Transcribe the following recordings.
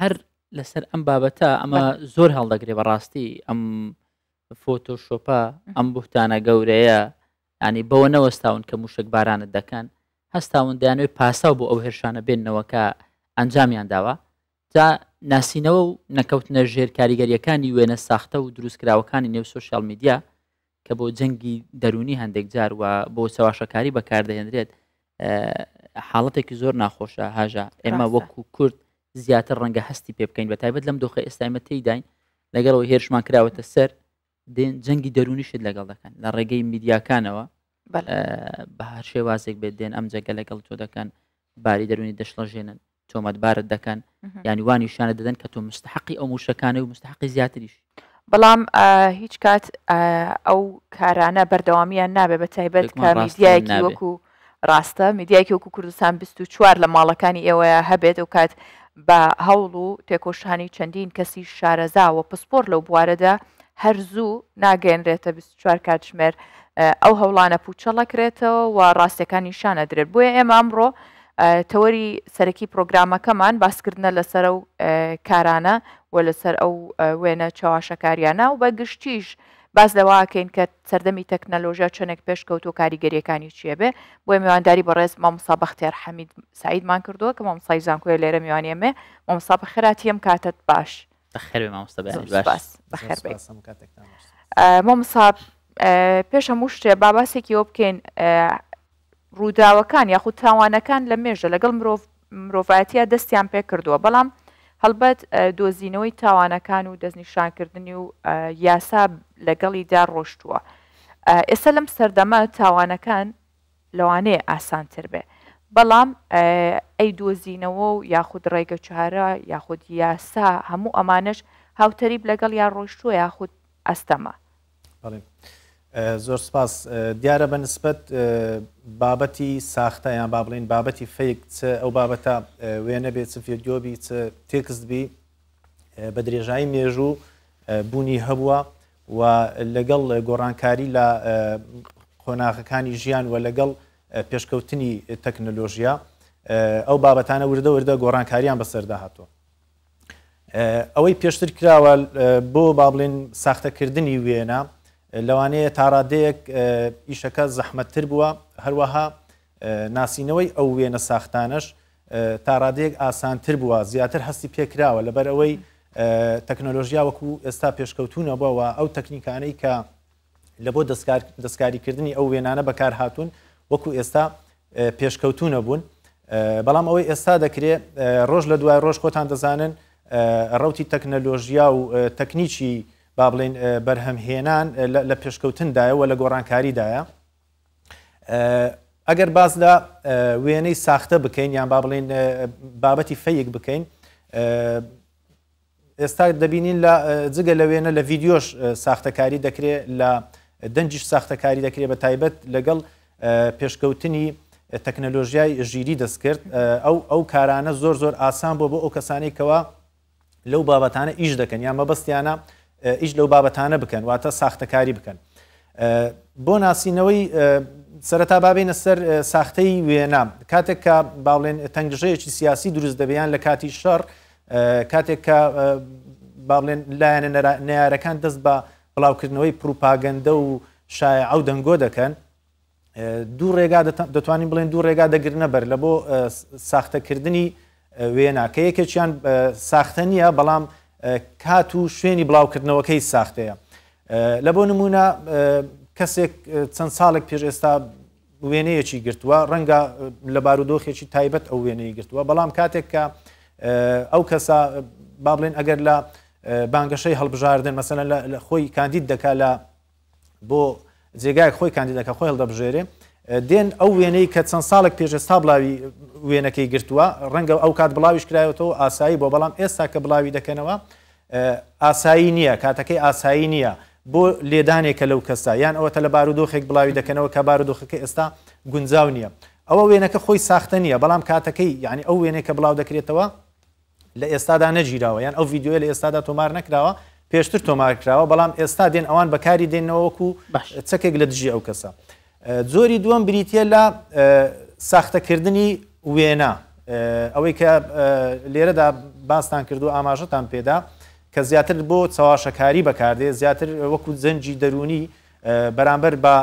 هەر لەسەر ئەم بابەتە ئەمە زۆر هەڵدەگرێ بەڕاستی ئەم فۆتۆ شۆپە ئەم بوتانە گەورەیە ینی بەوە نەوەستاون کە موشک بارانت دەکەن هەستاون دەیانوێ پاساو بۆ ئەو هێرشانە بێننەوە کە ئەنجامیان داوە تا ناسینەوە و نەکەوتنە ژێر کاریگەریەکانی وێنە ساختە و دروستکراوەکانی نێو سوسیال میدیا کە بۆ جەنگی دەروونی هەندێک جار و بۆ چەواشەکاری بەکاردەهێنرێت حاڵەتێکی زۆر ناخۆشە هاژە ئێمە وەکو کورد زیاتر ڕەنگە هەستی پێ بکەین بە تایبەت لەم دۆخە ئێستایمە تێداین لەگەڵەوە هێرشمان کراوەتە سەر دێن جەنگی دەرونیشت لەگەڵ دەکەن لە ڕێگەی میدیاکانەوە بە هەر شێوازێک بێت دێن ئەم جەگە لەگەڵ تۆ دەکەن باری دەرونی دەشڵەژێنن تۆمەتبارت دەکەن یانی وان نیشانە دەدەن کە تۆ مستحقی ئەو موشەکانە و مستحقی زیاتریش بەڵام هیچ کات ئەو کارانە بەردەوامیان نابێ بە تایبەت کامیدیایەکی وەکو ڕاستە میدیایکی وەکو کوردستان 24 لە ماڵەکانی ئێوەیە هەبێت و کات بە هەوڵ و تێکۆشانی چەندین کەسی شارەزا و پسپۆر لەو بوارەدا هەر زوو ناگەێنرێتە 24 کاتژمێر ئەو هەوڵانە پوچەڵەکرێتەوە و ڕاستەکان نیشانە درێت بۆیە ئێمە ئەمڕۆ تەوەری سەرەکی پرۆگرامەکەمان باسکردنە لەسەر ئەو کارانە و لەسەر ئەو وێنە چەواشەکاریانە و بە گشتیش باس لەواکەین کە سەردەمی تەکنەلۆژیا چەندێک پێشکەوت و کاریگەریەکانی چیە بێ بۆی میوانداری بەڕێز مامسا بەختێر حەمید سعیدمان کردووە کە مامسای زانکۆە لێرە میوانە مێ مامسا بەخراتی ئەم کاتت باش بەخێر بەخێر مامسا پێش هەموو شتێ باباسێکیەوە بکەین ڕووداوەکان یاخود تاوانەکان لە مێژە لەگەڵ مرۆڤ مرۆڤایەتیا دەستیان پێکردووە بەڵام هەڵبەت دۆزینەوەی تاوانەکان و دەستنیشانکردنی و یاسا لەگەڵیدا ڕۆشتووە ئێستا لەم سەردەمە تاوانەکان لەوانەیە ئاسانتر بێ بەڵام ئەی دۆزینەوە و یاخود ڕێگە چارە یاخود یاسا هەموو ئەمانش هاوتەریب لەگەڵ یا ڕۆشتووە یاخود ئەستەمە زۆر سپاس دیارە بە نسبەت بابەتی ساختە یان با بڵین بابەتی فیک چ ئەو بابەتە وێنە بێت چ فێدیۆبی چ تێکست بی بە درێژایی مێژوو بوونی هەبووە و لەگەڵ گۆڕانکاری لە قۆناغەکانی ژیان و لەگەڵ پێشکەوتنی تەکنەلۆژیە ئەو بابەتانە وردە وردە گۆڕانکاریان بەسەردا هاتووە ئەوەی پێشتر کراوە بۆ با بڵێن ساختەکردنی وێنە لەوانەیە تاڕادەیەک ئیشەکە زەحمەتتر بووە هەروەها ناسینەوەی ئەو وێنە ساختانەش تا ڕادێک ئاسانتر بووە زیاتر هەستی پێکراوە لەبەر ئەوەی تەکنۆلۆژیا وەکو ئێستا پێشکەوتونە بووەوە ئەو تەکنیکانەی کە لە بۆ دەستکار دەستکاریکردنی ئەو وێنانە بەکارهاتوون وەکو ئێستا پێشکەوتوو نەبوون بەڵام ئەوەی ئێستا دەکرێ ڕۆژ لە دوای ڕۆژ خۆتان دەزانن ڕوتی تەکنەلۆژیا و تەکنیکی با بڵین بەرهەمهێنان لە پێشکەوتندایەوە لە گۆڕانکاریدایە ئەگەر باز لە وێنەی ساختە بکەین یان با بڵین بابەتی فەیەک بکەین ئێستا دەبینین لە جگە لە وێنە لە ڤیدیۆش ساختەکاری دەکرێت لە دەنگیش ساختەکاری دەکرێت بە تایبەت لەگەڵ پێشکەوتنی تەکنەلۆژیای ژیری دەستکرد ئەو ئەو کارانە زۆر زۆر ئاسان بۆ بۆ ئەو کەسانی کەەوە لەو بابەتانە ئیش دەکەن یا مەبەستیانە ئیش لەو بابەتانە بکەن واتە ساختەکاری بکەن بۆ ناسینەوەی سەرەتا بابینە سەر ساختەی وێنا کاتێک کە باڵێن تەنگژەیەکی سیاسی دروست دەبیان لە کاتی شەڕ کاتێک کە با بڵێن لایەنە نەیارەکان دەست بە بڵاوکردنەوەی پروپاگەندە و شایع و دەنگۆ دەکەن دوو ڕێگا دەتوانین بڵێن دوو ڕێگا دەگرنە بەر لە بۆ ساختەکردنی وێنا کە یەکێکیان ساختە نییە بەڵام کات و شوێنی بڵاوکردنەوەکەی ساختەیە لە بۆ نمونە کەسێک چەند ساڵێک پێش ئێستا وێنەیەکی گرتووە ڕەنگە لە بارودۆخێکی تایبەت ئەو وێنەی گرتووە بەڵام کاتێک کە ئەو کەسە با بڵێن ئەگەر لە بانگەشەی هەڵبژاردن مەسەن لە خۆی کاندید دەکا لە بۆ جێگای خۆی کاندیدەکە خۆی هەڵدەبژێرێ دێن ئەو وێنەی کە چەند ساڵێک پێش ئێستا بڵاوی وێنەکەی گرتووە ڕەنگە ئەو کات بڵاویش کرایەوەەوە ئاسایی بۆ بەڵام ئێستا کە بڵاوی دەکەنەوە ئاسایی نییە، کاتەکەی ئاسایی نییە بۆ لێدانێکە لەو کەسە، یان ئەوەتە لە بارودۆخێک بڵاوی دەکەنەوە کە بارودۆخەکە ئێستا گونجاو نییە. ئەوە وێنەکە خۆی ساختە نییە، بەڵام کاتەکەی، یانی ئەو وێنەی کە بڵاو دەکرێتەوە لە ئێستادا نەگیراوە، یان ئەو ڤیدیۆیە لە ئێستادا تۆمار نەکراوە، پێشتر تۆمار کراوە، بەڵام ئێستا دێن ئەوان بەکاری دێننەوە وەکو چەکێک لە دژی ئەو کەسە. جۆری دووەم بریتییە لە ساختەکردنی وێنە، ئەوەی کە لێرەدا باستان کردو ئاماژەتان پێدا کە زیاتر بۆ چەواشەکاری بەکاردێ زیاتر وەکو جەنجی دەروونی بەرامبەر بە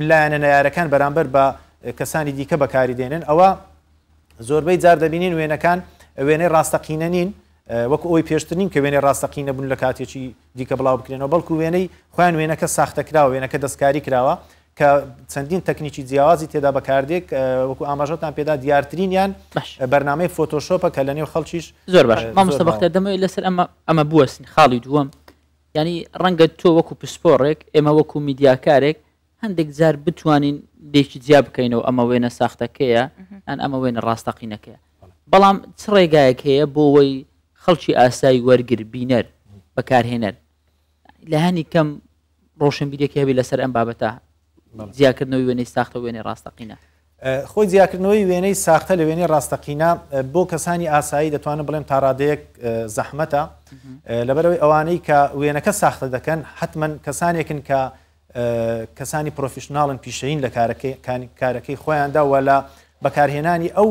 لایەنە نەیارەکان بەرامبەر بە کەسانی دیکە بەکاری دێنن ئەوە زۆربەی جار دەبینین وێنەکان وێنەی ڕاستەقینە نین وەکو ئەوی پێشتر نین کە وێنەی ڕاستەقینە بوون لە کاتێکی دیکە بڵاو بکرێنەوە بەڵکو وێنەی خۆیان وێنەکە ساختە کراوە وێنەکە دەستکاری کراوە کە چەندین تەکنیکی جیاوازی تێدا بەکاردێک وەکو ئاماژەتان پێدا دیارترینیان بەرنمەی فۆتۆشۆپە کە لە نێو خەڵکیش زۆر باش مامۆستا بەختە دەمەوەی لەسەر ئەمە ئەمە بوەستین خاڵی دووەم ینی ڕەنگە تۆ وەکو پسپۆڕێک ئێمە وەکو میدیاکارێک هەندێک جار بتوانین لێکی جیا بکەینەوە ئەمە وێنە ساختەکەیە ئەن ئەمە وێنە ڕاستەقینەکەیە بەڵام چ ڕێگایەک هەیە بۆەوەی خەڵکی ئاسایی وەرگر بینەر بەکارهێنەر لە هەنی کەم ڕۆشنبیرێکی هەبی لەسەر ئەم بابەتە جیاکردنەوەی وێنەی ساختە وێنەی ڕاستەقینە خۆی جیاکردنەوەی وێنەی ساختە لە وێنەی ڕاستەقینە بۆ کەسانی ئاسایی دەتوانم بڵێم تاڕادەیەک زەحمەتە لەبەرەوەی ئەوانەی کە وێنەکە ساختە دەکەن حتممەن کەسانێکن کە کەسانی پرۆفیشنناڵن پیشەین لە کارەکەی خۆیاندا وە لە بەکارهێنانی ئەو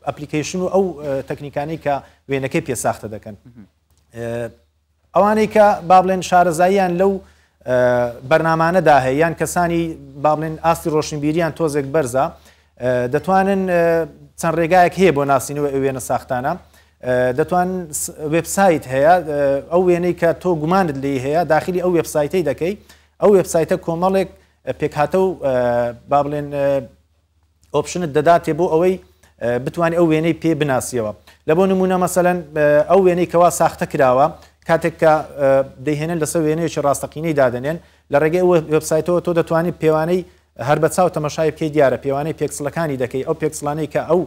ئەپلیکیشن و ئەو تەکنیکانی کە وێنەکەی پێ ساختە دەکەن ئەوانەی کە با بڵێن شارەزاییان لەو بەرنامانەدا هەیە یان کەسانی با بڵێن ئاستی ڕۆشنبیریان تۆزێک بەرزە دەتوانن چەند ڕێگایەک هەیە بۆ ناسینەوە ئەوێنە ساختانە دەتوان وبسایت هەیە ئەو وێنەی کە تۆ گومانت لی هەیە داخلی ئەو وبسایتی دەکەی ئەو وبسایتە کۆمەڵێک پێکهاتە و با بڵێن ئۆپشنت دەداتێ بۆ ئەوەی بتوانانی ئەو وێنەی پێ بناسیەوە لە بۆ نمونە مەسەەن ئەو وێنەی کەوا ساختە کراوە کاتێک کە دەهێنن لەسەر وێنەیەکی ڕاستەقینەی دادنێن لە ڕێگەی وبسایتەوە تۆ دەتوانانی پێوانەی هەر بە چاو تەمەشای بکەی دیارە پێوانەی پێکسلەکانی دەکەی ئەو پێکسلانەی کە ئەو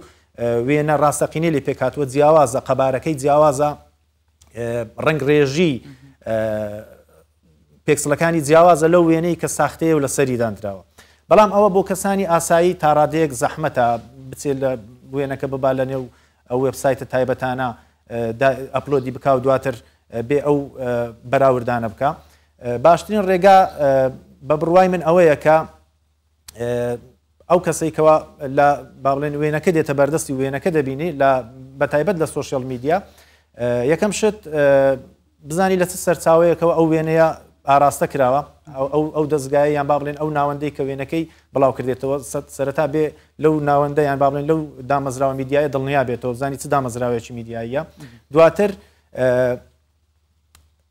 وێنە ڕاستەقینەی لێ پێکاتوە جیاوازە قەبارەکەی جیاوازە ڕنگڕێژی پێکسلەکانی جیاوازە لەو وێنەی کە ساختەیە و لە سەری دانراوە بەڵام ئەوە بۆ کەسانی ئاسایی تاڕادەیەک زەحمەتە بچێت لە وێنەکە ببا لە نێو ئەو وبسایتە تایبەتانە ئەپلۆدی بک و دواتر بێ ئەو بەراوردانە بکە باشترین ڕێگا بە بڕوای من ئەوەیە کە ئەو کەسەی کەوا لە بابلێن وێنەکە دێتە بەردەستی وێنەکە دەبینی لە بەتایبەت لە سوۆشیال میدیا یەکەم شت بزانی لە چ سەرچاوەیەکەوە ئەو وێنەیە ئاراستە کراوە ئەو دەستگایە یان با بڵێن ئەو ناوەندەی کە وێنەکەی بڵاو کردێتەوە سەرتا بێ لەو ناوەندە یان با بڵێن لەو دامەزراوە میدیایە دڵنیا بێتەوە بزانی چ دامەزراوێکی میدیاییە دواتر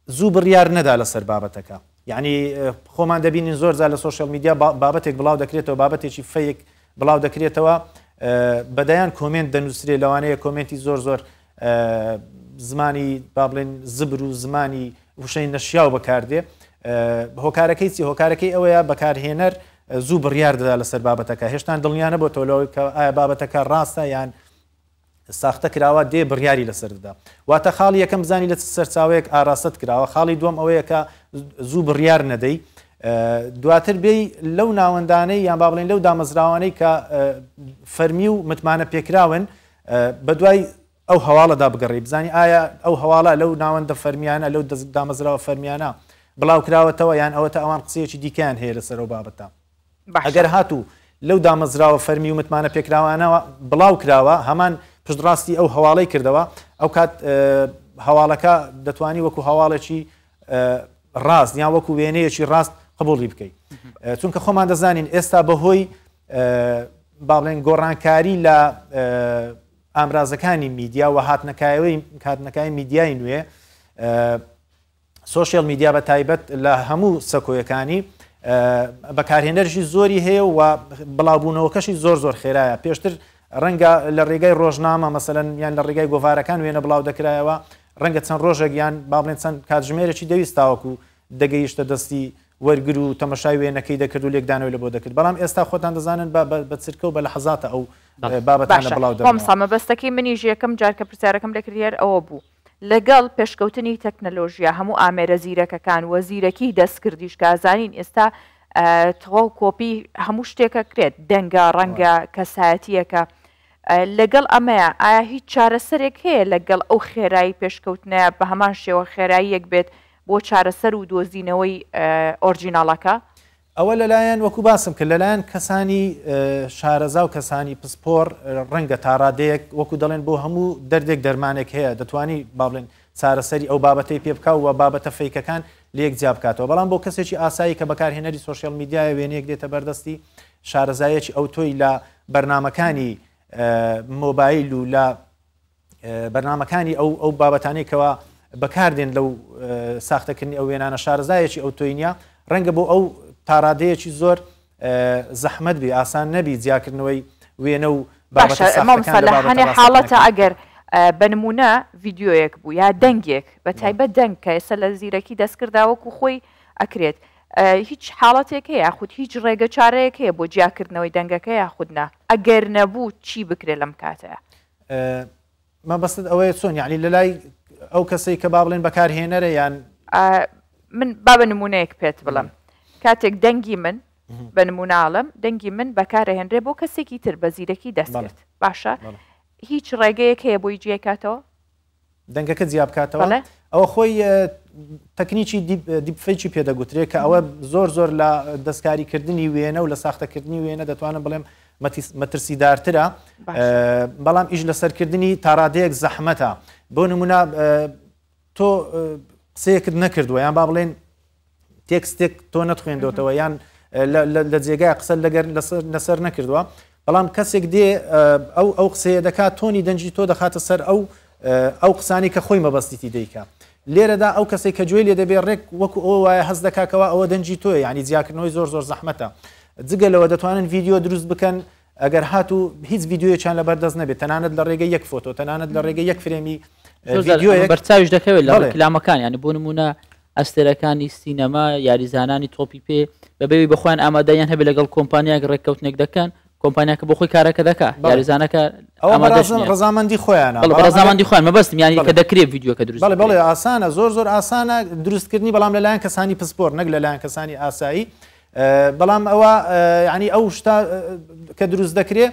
زوو بڕیار نەدا لەسەر بابەتەکە یعنی خۆمان دەبینین زۆر زار لە سوۆشل میدیا بابەتێک بڵاو دەکرێتەوە بابەتێکی فەیەک بڵاو دەکرێتەوە بەدەیان کۆمنت دەنووسرێ لەوانەیە کۆمنتی زۆر زۆر زمانی با بڵێن زبر و زمانی وشەی نەشیاو بەکاردێ هۆکارەکەی چی هۆکارەکەی ئەوەیە بەکارهێنەر زوو بڕیار دەدا لەسەر بابەتەکە هێشتان دڵنیانە بۆ تۆلەوەی کە ئایا بابەتەکە ڕاستە یان ساختە کراوە دێ بڕیاری لەسەر دەدا واتە خاڵی یەکەم بزانی لە چ سەرچاوەیەک ئاراستەت کراوە خاڵی دووەم ئەوەیە کە زوو بڕیار نەدەی دواتر بێی لەو ناوەندانەی یان با بڵێن لەو دامەزراوانەی کە فەرمی و متمانە پێکراون بە دوای ئەو هەواڵەدا بگەڕی بزانانی ئایا ئەو هەواڵە لەو ناوەندە فەرمیانە لەو دامەزراوە فەرمیانە بڵاوکراوەتەوە یان ئەوەتە ئەوان قسەیەکی دیکەیان هەیە لەسەر و بابەتە ئەگەر هاتوو لەو دامەزراوە فەرمی و متمانەپێکراوانەوە بڵاو کراوە هەمان پشتڕاستی ئەو هەواڵەی کردەوە ئەوکات هەواڵەکە دەتوانی وەکو هەواڵێکی ڕاست یان وەکو وێنەیەکی ڕاست قبولی بکەیت چونکە خۆمان دەزانین ئێستا بەهۆی باڵێن گۆڕانکاری لە ئامرازەکانی میدیا و هاتنەکایەوەی کاتنەکای میدیای نوێ سۆشیال میدیا بە تایبەت لە هەموو سەکۆیەکانی بەکارهێنەرشی زۆری هەیە و بڵاوبوونەوەکەشی زۆر زۆر خێرایە پێشتر ڕەنگە لە ڕێگای ڕۆژنامە مەسەن یان لە ڕێگای گۆڤارەکان وێنە بڵاو دەکرایەوە ڕەنگە چەند ڕۆژێک یان با بڵێن چەند کاتژمێرەی دەویستاوەکو دەگەیشتە دەستی وەرگر و تەمەشای وێنەکەی دەکرد و لێکدانەوە لە بۆ دەکرد بەڵام ئێستا خۆتان دەزانن بە چرکە و بە لە حەزاتە ئەو بابەتانە بڵاو دەمسامە بەستەکەی منیش یەکەم جارکە پرسیارەکەم لەکرد هەر ئەوە بوو لەگەڵ پێشکەوتنی تەکنەلۆژیا هەموو ئامێرە زیرەکەکان و زیرەکی دەستکردیش کە ئەزانین ئێستا تەواو کۆپی هەموو شتێکە کرێت دەنگە ڕەنگە کەسایەتیەکە لەگەڵ ئەمەیە ئایا هیچ چارەسەرێک هەیە لەگەڵ ئەو خێرایی پێشکەوتنەیە بە هەمان شێوە خێراییەک بێت بۆ چارەسەر و دۆزینەوەی ئۆرجیناڵەکە ئەوە لەلایەن وەکو باسم کرد لەلایەن کەسانی شارەزا و کەسانی پسپۆڕ ڕەنگە تاڕادەیەک وەکو دەڵێن بۆ هەموو دەردێک دەرمانێک هەیە دەتوانی با بڵێن چارەسەری ئەو بابەتەی پێ بکا و بابەتە فەیکەکان لەیەک جیا بکاتەوە بەڵام بۆ کەسێکی ئاسایی کە بەکارهێنەری سۆشیال میدیایە وێنەیەک دێتە بەردەستی شارەزایەکی ئەوتۆی لە بەرنمەکانی مۆبایل و لە بەرنامەکانی ئەو ئەو بابەتانەی کەوا بەکاردێن لەو ساختەکردنی ئەو وێنانە شارەزایەکی ئەو تۆی نیە ڕەنگە بۆ ئەو تاڕادەیەکی زۆر زەحمت بی ئاسان نەبی جیاکردنەوەی وێنە و باشەمامسەلحانێ حاڵەتە ئەگەر بەنمونە ڤیددیویەک بوو یا دەنگێک بە تایبەت دەنگ کە ئێستا لە زیرەکی دەستکرداوەکو خۆی ئەکرێت هیچ حاڵەتێک هەیە یاخود هیچ ڕێگە چارەیەک هەیە بۆ جیاکردنەوەی دەنگەکە یاخودنا ئەگەر نەبوو چی بکرێت لەم کاتەیە مەبەستت ئەوەیە چۆن یعنی لە لای ئەو کەسەی کە با بڵێن بەکارهێنەرە یان من با بە نمونەیەک پێت بڵم کاتێک دەنگی من بە نموناڵم دەنگی من بەکارهێنرێ بۆ کەسێکی تر بە زیرەکی دەستێت باشە هیچ ڕێگەیەک هەیە بۆی جێکاتەوە دەنگەکە جیا بکاتەوە بەڵێ. ئەوە خۆی ە تەکنیکی دیپ دیپ فەیکی پێ دەگوترێ کە ئەوە زۆر زۆر لە دەستکاری کردنی وێنە و لە ساختە کردنی وێنە دەتوانم بڵێم مەتیس مەترسی دارترە باش بەڵام ئیش لە سەرکردنی تاڕادەیەک زەحمەتە بۆ نمونا تۆ قسەیەکت نەکردووە یان با بڵێن تێکستێک تۆ نەتخوێندۆتەوە یان لە جێگای قسە لەگەر لەسەر نەکردووە بەڵام کەسێک دێ ئەو ئەو قسەیە دەکات تۆنی دەنجی تۆ دەخاتە سەر ئەو ئەو قسانی کە خۆی مەبەستیتی دیکە لێرەدا ئەو کەسی کە گوێ لێ دەبێ ڕێک وەکو ئەو وایە هەز دەکاکەوە ئەوە دەنجی تۆی ینی جیاکردنەوەی زۆر زۆر زەحمەتە جگە لەوە دەتوانن ڤیددیو دروست بکەن ئەگەر هاتوو هیچ ڤیدیۆیەکیان لەبەر دەست نەبێت تەنانەت لە ڕێگەی یەک فۆتۆ تەنانەت لە ڕێگەی یەک فرێمی زۆر جار ڤیدیۆیەک ئەمە بەرچاویش دەکەوێت لە بەڵێ. ڕیکلامەکان یانی بۆ نمونە ئەستێرەکانی سینەما یاریزانانی تۆپی پێ بەبێوی بەخۆیان ئامادەیان هەبێت لەگەڵ کۆمپانیاک ڕێککەوتنێک دەکەن کۆمپانیاکە بۆ خۆی کارەکە دەکات بەڵێ. یاریزانەکە ئەوە ئامادەش بەڕازن نییە. ڕزامەندی خۆیانە بەڵێ بەڵام ئەگەر- بەڕزامەندی خۆیان مەبەستم یانی کە بەڵێ. دەکرێت ڤیدیۆکە دروست بەڵێ بکرێت. بەڵێ ئاسانە زۆر زۆر ئاسانە دروستکردنی بەڵام لەلایەن کەسانی پسپۆر نەک لەلایەن کەسانی ئاسایی بەڵام ئەوە یعنی ئەو شتە کە دروست دەکرێ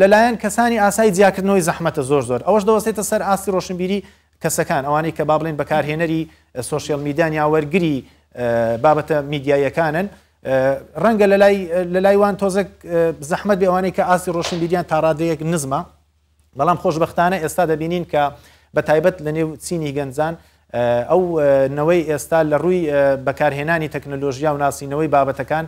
لەلایەن کەسانی ئاسای جیاکردنەوەی زەحمەتە زۆر زۆر ئەوەش دەوەستێتە سەر ئاستی ڕۆشنبیری کەسەکان ئەوانەی کە با بڵێن بەکارهێنەری سوۆسیال میدان یا وەرگری بابەتە میدیاییەکانن ڕەنگە لە لای وان تۆزێک زەحمت بێوانەی کە ئاستی ڕۆشنبیریان تاڕادەیەک نزمە بەڵام خۆشبەختانە ئێستا دەبینین کە بە تایبەت لە نێو چینی گەنجان ئەو نەوەی ئێستا لە ڕووی بەکارهێنانی تەکنەلۆژیا و ناسینەوەی بابەتەکان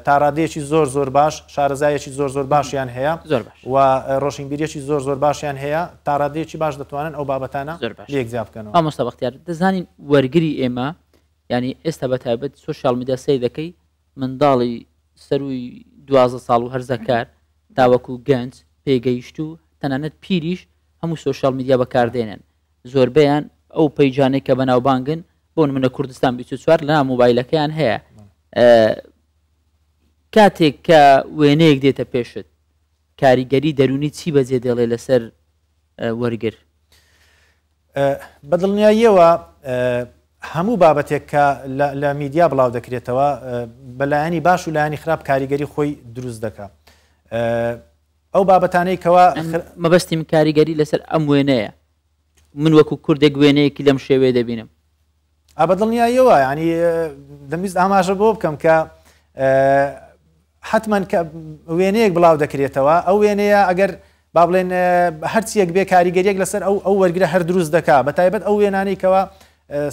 تاڕادێکی زۆر زۆر باش شارەزایەکی زۆر زۆر باشیان هەیە زۆر و ڕۆشنبیریەکی زۆر زۆر باشیان هەیە تاڕادێکی باش دەتوانن ئەو بابەتانە زۆر باش یەکجیا بکەن ئامۆستا بەختیار دەزانین وەرگری ئێمە ینی ئێستا بە تایبەت سوسیال میدیا سەی دەکەی منداڵی سەرووی دوازدە ساڵ و هەرزەکار تاوەکو گەنج پێگەیشتوو تەنانەت پیریش هەموو سۆشیال میدیا بەکاردێنێن زۆربەیان ئەو پەیجانێک کە بەناوبانگن بۆ نمونە کوردستان بیچ چوار لە مۆبایلەکەیان هەیە کاتێک کە وێنەیەک دێتە پێشت کاریگەری دەرونی چی بەجێ دێڵێ لەسەر وەرگر بەدڵنیاییەوە هەموو بابەتێک کە لە میدیا بڵاو دەکرێتەوە بە لایەنی باش و لایەنی خراپ کاریگەری خۆی دروست دەکا ئەو بابەتانەی کەوا مەبەستیم کاریگەری لەسەر ئەم وێنەیە من وەکو کوردێک وێنەیەکی لەم شێوێ دەبینم ئا بە دڵنیاییەوە یعنی دەمویست ئاماژە بۆ بکەم کە حتممەن کە وێنەیەک بڵاو دەکرێتەوە ئەو وێنەیە ئەگەر با بڵێن هەرچیەک بێ کاریگەریەک لەسەر ئەو ئەو وەرگرە هەر دروست دەکا بە تایبەت ئەو وێنانەی کەەوە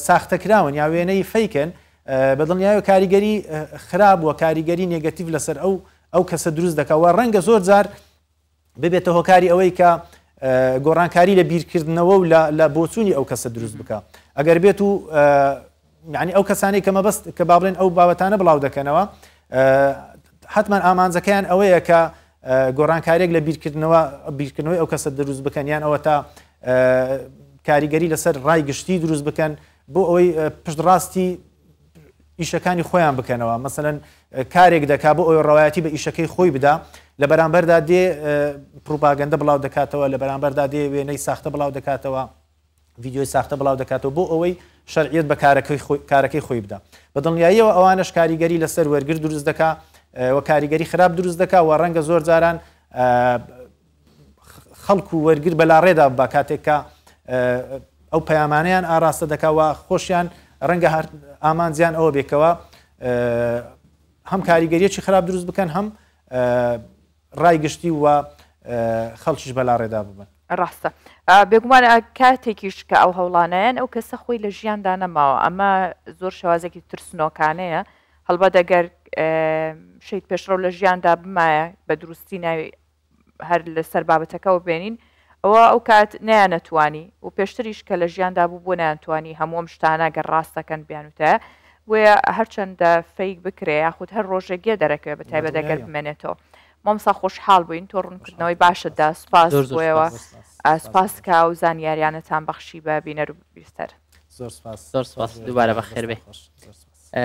ساختەکراون یا وێنەی فیکن بە دڵنیایە کاریگەری خراپ وە کاریگەری نگەتیف لەسەر ئەو ئەو کەسە دروست دەکەوە ڕەنگە زۆر جار ببێتە هۆکاری ئەوەی کە گۆڕانکاری لە بیرکردنەوە و لە بۆچوونی ئەو کەسە دروست بکە ئەگەر بێت و یعنی ئەو کەسانی کە مەبەست کە بابلێن ئەو بابەتانە بڵاو دەکەنەوە حتمان ئامانجەکەیان ئەوەیە کە گۆڕانکارێک لە بیرکردنەوە بیرکردنەوەی ئەو کەسە دروست بکەن یان ئەوە تا کاریگەری لەسەر ڕای گشتی دروست بکەن بۆ ئەوەی پشتڕاستی ئیشەکانی خۆیان بکەنەوە مەسەن کارێک دەکا بۆ ئەوی ڕواەتی بە ئیشەکەی خۆی بدا لە بەرامبەردا دێ پروپاگەندە بڵاو دەکاتەوە لە بەرامبەردا دێ وێنەی ساختە بڵاو دەکاتەوە ویددیوی ساختە بڵاو دەکاتەوە بۆ ئەوەی شەرعیت بە کارەکەی خۆی بدا بە دڵنیاییەوە ئەوانش کاریگەری لەسەر وەرگر دروست دەکا و کاریگەری خراپ دروست دەکا و ڕەنگە زۆر جاران خەڵک و وەرگر بەلاڕێدا بە کاتێک کە ئەو پەیامانیان ئاراستە دەکەوە خۆشیان ڕەنگە هەر ئامانجیان ئەوە بێکەوە هەم کاریگەریەکی خراپ دروست بکەن هەم ڕای گشتی و خەڵکیش بەلاڕێدا ببن ڕاستە بێگومان کاتێکیش کە ئەو هەوڵانیان ئەو کەسە خۆی لە ژیاندا نەماوە ئەمە زۆر شێوازێکی ترسنۆکانەیە هەڵبەت دەگەر شیت پێشڕەو لە ژیاندا بمایە بە دروستی ناوی هەر لە سەر بابەتەکەوە بێنین ئەوە ئەو کات نەیانەتوانی و پێشتریش کە لە ژیاندا بوو بۆ نەیانتوانی هەموو ئەم شتانە گەر ڕاستەکەن بیانوتایە بۆیە هەرچەندە فەیک بکرێ یاخود هەر ڕۆژێک گێ دەرەکەوێ بە تایبەت ئەگەر بمێنێتەوە مامۆستا خۆشحاڵ بووین تۆ ڕوونکردنەوەی باشت دا سوپاس زۆر زۆر بۆیەوە سپاس آه، سپاس سپاس کە و زانیاریانەتان بەخشی بە بینەر و بیستەر زۆر سپاس زۆر سپاس، خۆش بێ دووبارە زۆر بەخێر بێ. دەستان خۆش زۆر سپاس. ئە،